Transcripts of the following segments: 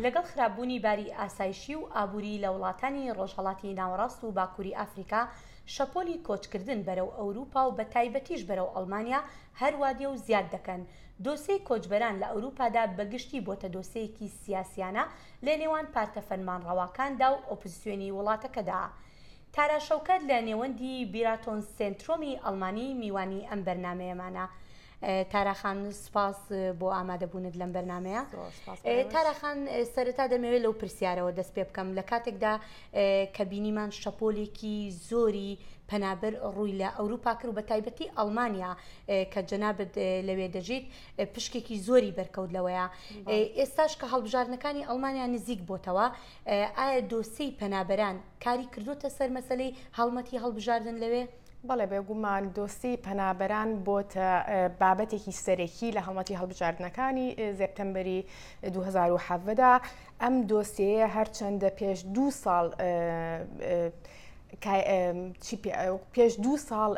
لەگەڵ خراپبوونی باری ئاسایشی و ئابووری لە وڵاتانی ڕۆژهەڵاتی ناوەڕاست و باکووری ئەفریقا، شەپۆلی کۆچکردن بەرەو ئەوروپا و بەتایبەتیش بەرەو ئەڵمانیا هەر وا دێ و زیاد دەکەن. دۆسێی کۆچبەران لە ئەوروپادا بە گشتی بۆتە دۆسێیەکی سیاسییانە لە نێوان پارتە فەرمانڕەواکاندا و ئۆپزسیۆنی وڵاتەکەدا. تارا شەوکەت لە نێوەندی بیراتۆن سێنترۆمی ئەڵمانی میوانی ئەم بەرنامەیەمانە. تارا خان سپاس بۆ ئامادەبوونت لەم بەرنمەیە تارا خان سەرەتا دەمەوێت لەو پرسیارەوە دەست پێ بکەم لە کاتێکدا کە بینیمان شەپۆلێکی زۆری پەنابەر ڕووی لە ئەوروپا کرد و بە تایبەتی ئەڵمانیا کە جەنابەت لەوێ دەژیت پشکێکی زۆری بەرکەوت لەوەیە ئێستاش کە هەڵبژاردنەکانی ئەڵمانیا نزیک بۆتەوە ئایا دۆسیی پەنابەران کاری کردوتە سەر مەسلەی هەڵمەتی هەڵبژاردن لەوێ؟ بەڵێ بێگومان دۆسی پەنابەران بۆتە بابەتێکی سەرەکی لە هەڵمەتی هەڵبژاردنەکانی زێپتەمبەری 2010دا ئەم دۆسیەیە هەرچەندە پێش دو ساڵ پێش دو ساڵ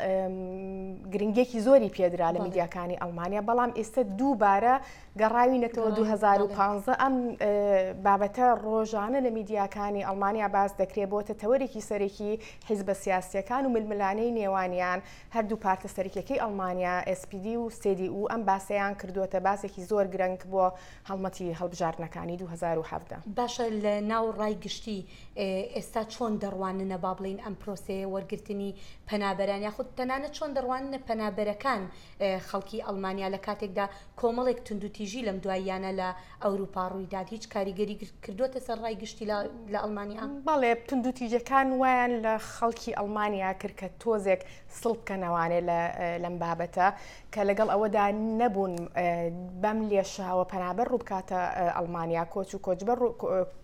گرنگێکی زۆری پێدرا لە میدیاکانی ئەڵمانیا بەڵام ئێستا دووبارە گەڕاوی نەتەوە 2015 ئەم بابەتە ڕۆژانە لە میدیاکانی ئەڵمانیا باس دەکرێت بۆتە تەوەرێکی سەرەکی حیزبە سیاسەکان و ململانەی نێوانیان هەردوو پارتە سەرکیەکەی ئەڵمانیا SPD و سێدی و ئەم باسەیان کردووەتە باسێکی زۆر گرنگ بۆ هەڵمەتی هەڵبژاردنەکانی 2017 باشە لە ناو ڕای گشتی ئێستا چۆن دەڕواننە با بڵێین ئەم پرۆسەیە وەرگرتنی پەنابەران یاخود تەنانە چۆن دەڕواننە پەنابەرەکان خەڵکی ئەلمانیا لە کاتێکدا کۆمەڵێک توندوتیژی لەم دواییانە لە ئەوروپا ڕوویدات هیچ کاریگەری کردوتە سەر ڕای گشتی لە ئەلمانیا بەڵێ توندوتیژەکان وایان لە خەڵکی ئەلمانیا کرد کە تۆزێک سڵ بکەنەوانێ لەم بابەتە کە لەگەڵ ئەوەدا نەبوون بەم لێشاوە پەنابەر ڕووبکاتە ئەلمانیا کۆچ و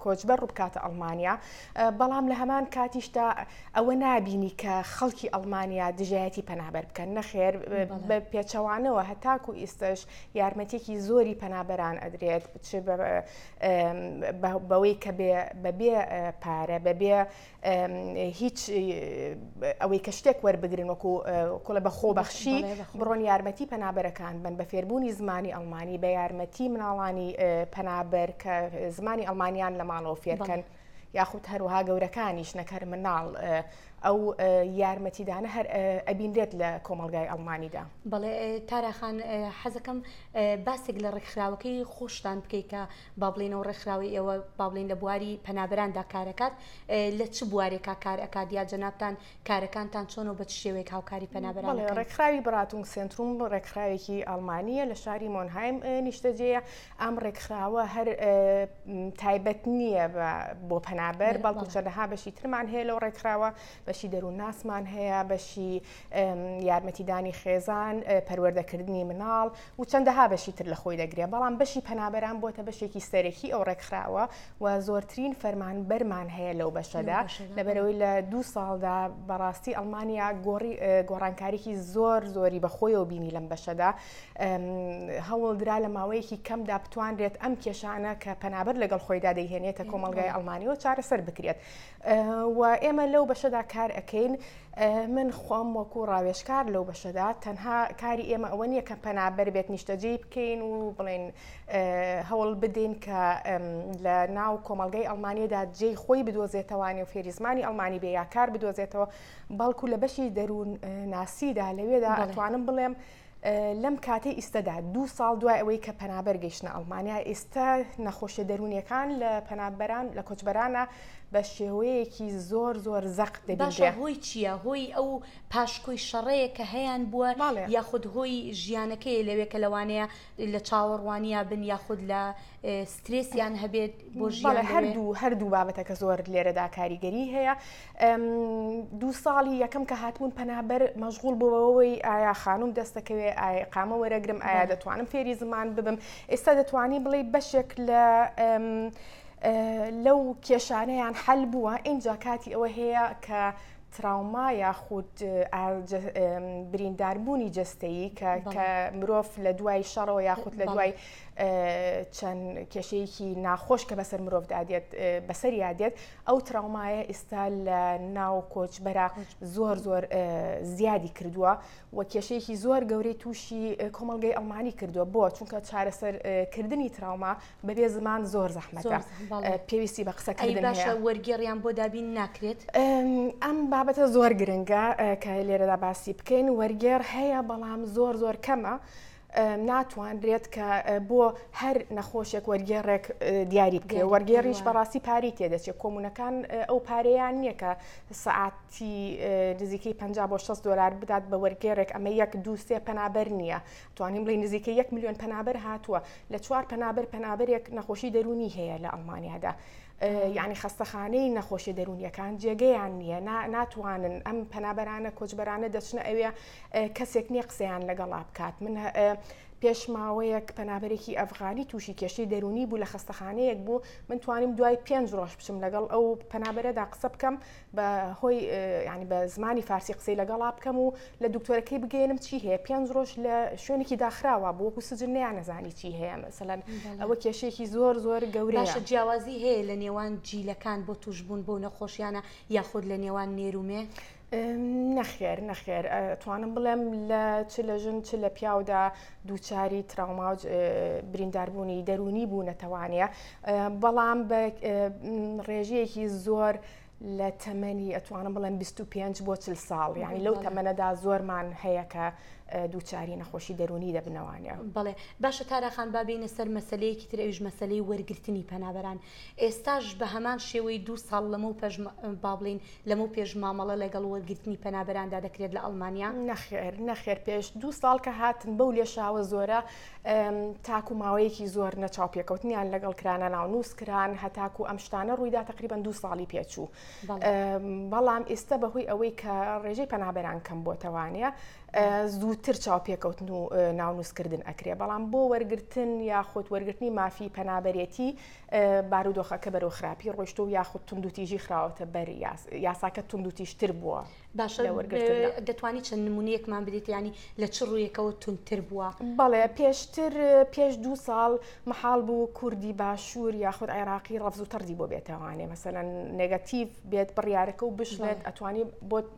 کۆچبەر ڕووبکاتە ئەلمانیا بەڵام لە هەمان کاتیشدا ئەوە نبینی کە خەڵکی ئەلمانیا دژایەتی پەنابەر بکەن نەخێر بە پێچەوانەوە هەتاکو ئیستش یارمەتێکی زۆری پەنابەران ئەدرێت بەوەی کە بەبێ پارە بەبێ هیچ ئەوەی کە شتێک وەربگرن وەکو کوڵە بە خۆبەخشی بڕۆن یارمەتی پەنابەرەکان بن بە فێربوونی زمانی ئەڵمانی بە یارمەتی مناڵانی پەنابەر کە زمانی ئەڵمانیان لە ماڵەوە فێرکەن. یاخود هەروها گەورەکانیش نەکەر مناڵ ئەو یارمەتیدانە هەر ئەبینرێت لە کۆمەلگای ئەڵمانیدا بەڵێ تاراخان حەزەکەم باسێک لە ڕێکخراوەکەی خۆشتان بکەیت کە با بڵێینەوە ڕێکخراوی ئێوە با بڵێین لە بواری پەنابەراندا کارەکات لە چ بوارێکا کار ئەکات یا جەنابان کارەکانتان چۆن و بە چ شێوەیەک هاوکاری پەنابەران ڕێکخراوی بڕاتون سنتروم بۆ ڕێکخراوێکی ئەڵمانیە لە شاری مۆنهایم نیشتەجێە ئەم ڕێکخراوە هەر تایبەت نییە بۆ پەنابەر بەڵکو چەندەها بەشی ترمان هەیە لەو ڕێکخراوە بەشی دەروون ناسمان هەیە بەشی یارمەتیدانی خێزان پەروەردەکردنی مناڵ و چەندەها بەشی تر لە خۆی دەگرێ، بەڵام بەشی پەنابەران بۆتە بەشێکی سەرەکی ئەو ڕێکخراوە و زۆرترین فەرمانبەرمان هەیە لەو بەشەدا لەبەرەوەی لە دوو ساڵدا بەڕاستی ئەڵمانیا گۆڕی گۆڕانکاریکی زۆر زۆری بەخۆیەوە بینی لەم بەشەدا هەوڵدرا لە ماوەیەکی کەمدا بتوانرێت ئەم کێشانە کە پەنابەر لەگەڵ خۆیدا دەیهێنێتە کۆمەلگای ئەڵمانیەوە چارەسەر بکرێت و ئێمە لەو بەشەدا کار ئەکەین من خۆم وەکو ڕاوێشکار لەو بەشەدا تەنها کاری ئێمە ئەوە نییە کە پەنابەر بێت نیشتەجێ بکەین و بڵێن هەوڵ بدەین کە لە ناو کۆمەلگای ئەلمانیەدا جێی خۆی بدۆزێتەوانی و فێریزمانی ئەلمانی بێ یاکار بدۆزێتەوە بەڵکو لە بەشی دەروون ناسیدا لەوێدا ئەتوانم بڵێم لەم کاتەی ئیستەدا دوو ساڵ دوای ئەوەی کە پەنابەر گەیشتە ئەڵمانیا ئێستا نەخۆشیە دەرونیەکان لە پەنابەران لە کۆچبەرانە بە شێوەیەکی زۆر زۆر زەق دەباشە هۆی چییە هۆی ئەو پاشکۆی شەڕەیە کە هەیان بووە یاخود هۆی ژیانەکەی لەوێ کە لەوانەیە لە چاوەڕوانیا بن یاخود لە سترێسیان هەبێت بۆ ژیان هەردوو هەردوو بابەتەکە زۆر لێرەدا کاریگەری هەیە دوو ساڵی یەکەم کە هاتبوون پەنابەر مەژغول بۆ بەوەی ئایا خانوم دەستەکەوێ ئایا قامە وەرەگرم ئایا دەتوانم فێری زمان ببم ئێستا دەتوانی بڵێ بەشێک لە لەو کێشانەیان حەل بووە ئینجا کاتی ئەوە هەیە کە تراوما یاخود برینداربوونی جستەیی کە کە مرۆڤ لە دوای شەڕەوە یاخود لە دوای چەند کێشەیەکی ناخۆش کە بەسەر مرۆڤ دادێت بەسەر یادێت ئەو تراومایە ئیستا لە ناو کۆچبەرە زۆر زۆر زیادی کردووە و کێشەیەکی زۆر گەورەی تووشی کۆمەلگەی ئەڵمانی کردووە بۆ چونکە چارەسەرکردنی تراوما بەبێ زمان زۆر زەحمەتە پێویستی بە قسەکەی باشە وەرگێڕیان بۆ دابین ناکرێت ئەم بابەتە زۆر گرنگە کە لێرەدا باسی بکەین وەرگێڕ هەیە بەڵام زۆر زۆر کەمە. ناتواندرێت کە بۆ هەر نەخۆشێک وەرگێڕێک دیاری بکرێ وەرگێڕیش بەڕاستی پاری تێدەچێت کۆمونەکان ئەو پارەیان نییە کە سعاتی نزیکەی 50 بۆ 6 دلار بدات بە وەرگێڕێک ئەمە یەک دووسێ پەنابەر نییە توانیم بڵی نزیکە 1 میلیۆن پەنابەر هاتووە لە چوار پەنابەر پەنابەرێک نەخۆشی دەرونی هەیە لە ئەڵمانیادا. یعنی خەستەخانەی نەخۆشی دەرونیەکان جێگەیان نییە ناتوانن ئەم پەنابەرانە کۆچبەرانە دەچنە ئەوێ کەسێک نییە قسەیان لەگەڵا بکات من پێش ماوەیەک پەنابەرێکی ئەفغانی تووشی کێشەی دەرونی بوو لە خستەخانەیەک بوو من توانیم دوای پێنج ڕۆژ بچم لەگەڵ ئەو پەنابەرەدا قسە بکەم بە هۆی ینی بە زمانی فارسی قسەی لەگەڵا بکەم و لە دکتۆرەکەی بگەێنم چی هەیە پێنج ڕۆژ لە شوێنێکی داخراوە بۆ و سجن نیان نەزانی چی هەیە مەسەەن ئەوە کێشێکی زۆر زۆر گەورەشە جیاوازی هەیە لە نێوان جیلەکان بۆ توشببوون بۆ نەخۆشیانە یاخود لە نێوان نێرومێ نەخێر نەخێر توانم بڵێم لە چ لە ژن چ لە پیاودا دووچاری تراوماوج برینداربوونی دەرونی بوو نەتەوانە بەڵام بە ڕێژەیەکی زۆر لە تەمەنی ئەتوانم بڵێم 25 بۆ چل ساڵ یعنی لەو تەمەەدا زۆرمان هەیە کە دووچاری نەخۆشی دەرونی دەبنەوانە بڵێ باشە تاراخان بابینە سەر مەسلەیەکی ترەویش مەسلەی وەرگرتنی پەنابەران ئێستاش بە هەمان شێوەی دوو ساڵ لەمەو پێش با بڵێین لەمەو پێش مامەڵە لەگەڵ وەرگرتنی پەنابەراندا دەکرێت لە ئەڵمانیا؟ نەخێر نەخێر پێش دوو ساڵ کە هاتن بەو لێشاوە زۆرە تاکو ماوەیەکی زۆر نەچاو پێکەوتنیان لەگەڵ کرانە ناونووس کران هەتاکو ئەم شتانە ڕوویدا تقریبان دوو ساڵی پێچوو بەڵام ئێستا بەهۆی ئەوەی کە ڕێژەی پەنابەران کەم بۆتەوانە زووتر چاوپێکەوتن و ناونووسکردن ئەکرێ بەڵام بۆ وەرگتن یاخود وەرگرتنی مافی پەنابەرێتی بارودۆخەکە بەرەو خراپی ڕۆشت و یاخود تونندوتیژی خراوەتە بەر یاساکە تونندوتیشتر بووە باشە دەتوانی چەند نمونونیەکمان بدێت ینی لە چ ڕوویەکەوە تونتر بووە بەڵێ پێشتر پێش دو ساڵ محاڵ بوو کوردی باشوور یاخود عێراقی ڕەفز و تەردی بۆ بێتەوانێ مەسەەن نگەتیڤ بێت بڕیارەکە و بشڵێت ئەتوانی بۆ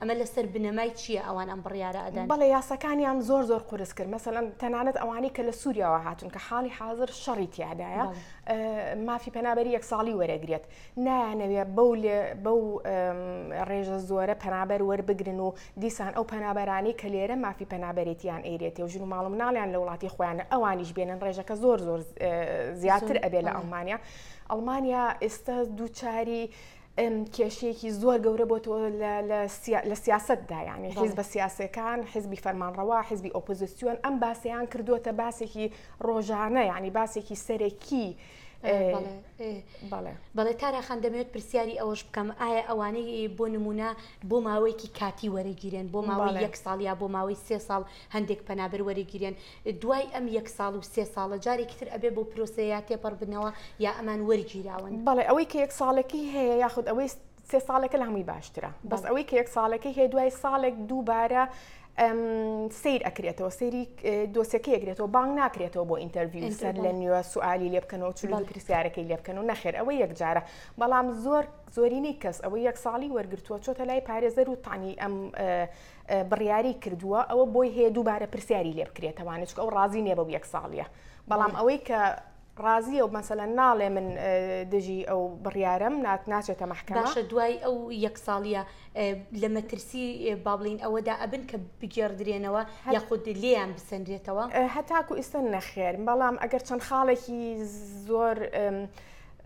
ئەمە لەسەر بنەمای چییە ئەوان ئەم بڕیارە ئەدەن؟ بەڵێ یاساکانیان زۆر زۆر قورس کرد مەسەلەن تەنانەت ئەوانەی کە لە سووریاوە هاتون کە حاڵی حاضر شەڕی تیادایە مافی پەنابەری یەک ساڵی وەرەگرێت نایانەوێت بەو لێ بەو ڕێژە زۆرە پەنابەر وەربگرن و دیسان ئەو پەنابەرانی کە لێرە مافی پەنابەرێتیان ئەیرێتێ و ژن و ماڵم ناڵیان لە وڵاتی خۆیان ئەوانیش بێنن ڕێژەکە زۆر زۆر زیاتر ئەبێ لە ئەڵمانیا ئەڵمانیا ئێستا دووچاری کێشەیەکی زۆر گەورە بۆتەوە لە سیاستدا یانی حیز بە سیاسەکان حزبی فەرمانڕەوە حزبی ئۆپۆزیسیۆن ئەم باسیان کردووەتە باسێکی ڕۆژانە ینی باسێکی سەرەکی بەڵێ تاراخان دەمێت پرسیاری ئەوەش بکەم ئایا ئەوانەی بۆ نمونە بۆ ماوەیەکی کاتی وەرەگیرێن بۆ ماوەی یەک ساڵ یا بۆ ماوەی سێ ساڵ هەندێک پەنابەر وەرەگیرێن دوای ئەم یەک ساڵ و سێ ساڵە جارێکی تر ئەبێ بۆ پرۆسەیە تێپەڕ بنەوە یا ئەمان وەرگیراون؟ بەڵێ ئەوەی کە یەک ساڵەکەی هەیە یاخود ئەوەی سێ ساڵەکە لە هەمووی باشترە بەس ئەوەی کە یەک ساڵەکەی هەیە دوای ساڵێک دووبارە سیر ئەکرێتەوە سری دۆسەکە یەکرێتەوە بانگ ناکرێتەوە بۆ ئینتەرڤیو سەر لە نیوە سوالی لێ بکەنەوە چ پرسیارەکەی لێ بکەن و نەخێر ئەوە یەکجارە بەڵام زۆر زۆرینەی کەس ئەوە یەک ساڵی وەرگتووە چۆتە لای پارێزەر و تانی ئەم بڕیاری کردووە ئەوە بۆی هەیە دووبارە پرسیاری لێ بکرێتەوانە چکە ئەو ڕازی نیە بەو یەک ساڵیە بەڵام ئەوەی کە ڕازیە و مەسەلە ناڵێ من دژی ئەو بڕیارم نات ناچێتە مەحکەماشە دوای ئەو یەک ساڵیە لە مەترسی بابلین ئەوەدا ئەبن کە بگێڕدرێنەوە یاخود لێیان بسەنرێتەوە هەتاکو ئیسن نەخێر بەڵام ئەگەر چەند خاڵێکی زۆر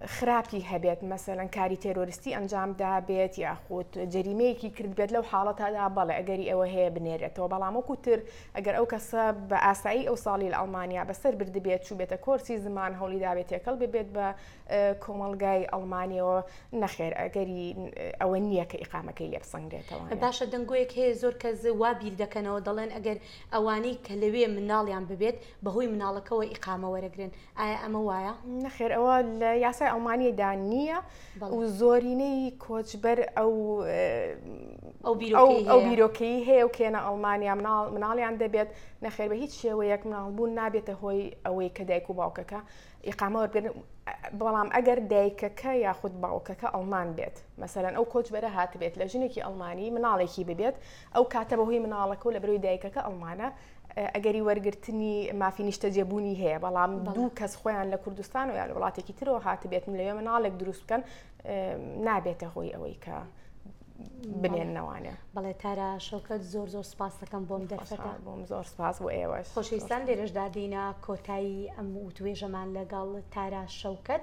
خراپی هەبێت مەسەلەن کاری تێرۆریستی ئەنجام دابێت یاخود جەریمەیەکی کردبێت لەو حاڵەتەدا بەڵێ ئەگەری ئەوە هەیە بنێرێتەوە بەڵام وەکوتر ئەگەر ئەو کەسە بە ئاسایی ئەو ساڵی لە ئەڵمانیا بەسەر بردبێت چوو بێتە کۆرسی زمان هەوڵی داوێت تێکەڵ ببێت بە کۆمەڵگای ئەڵمانیەوە نەخێر ئەگەری ئەوە نییە کە ئیقامەکەی لێ بسەنگرێتەوە باشە دەنگۆیەک هەیە زۆر کەس وا بیر دەکەنەوە دەڵێن ئەگەر ئەوانەی کە لەوێ منداڵیان ببێت بەهۆی منداڵەکەوە ئیقامە وەرەگرن ئایا ئەمە وایە؟ نەخێر ئەوە لە یاسای ئەڵمانیدا نییە و زۆرینەی کۆچبەر ئەو ئەو بیرۆکەی هەیە و کێنە ئەڵمانیا مناڵ مناڵیان دەبێت نەخێر بە هیچ شێوەیەک مناڵبوون نابێتە هۆی ئەوەی کە دایک و باوکەکە ئیقامە وەرگن بەڵام ئەگەر دایکەکە یاخود باوکەکە ئەڵمان بێت مەسەرەن ئەو کۆچبەرە هاتبێت لە ژنێکی ئەڵمانی مناڵێکی ببێت ئەو کاتە بەهۆی مناڵەکە و لە برەوی دایکەکە ئەڵمانە ئەگەری وەرگرتنی مافی نیشتەجێبوونی هەیە بەڵام دوو کەس خۆیان لە کوردستان و یا لە وڵاتێکی ترەوە هاتبێتن لەوێ مناڵێک دروست بکەن نابێتە هۆی ئەوەی کە بنێنەوانە بەڵێ تارا شەوکەت زۆر زۆر سپاس دەکەم بۆم دەرفەتا بۆم زۆر سپاس بۆ ئێوە خۆشەویستان لێرەشدادینە کۆتایی ئەم و توێژەمان لەگەڵ تارا شەوکەت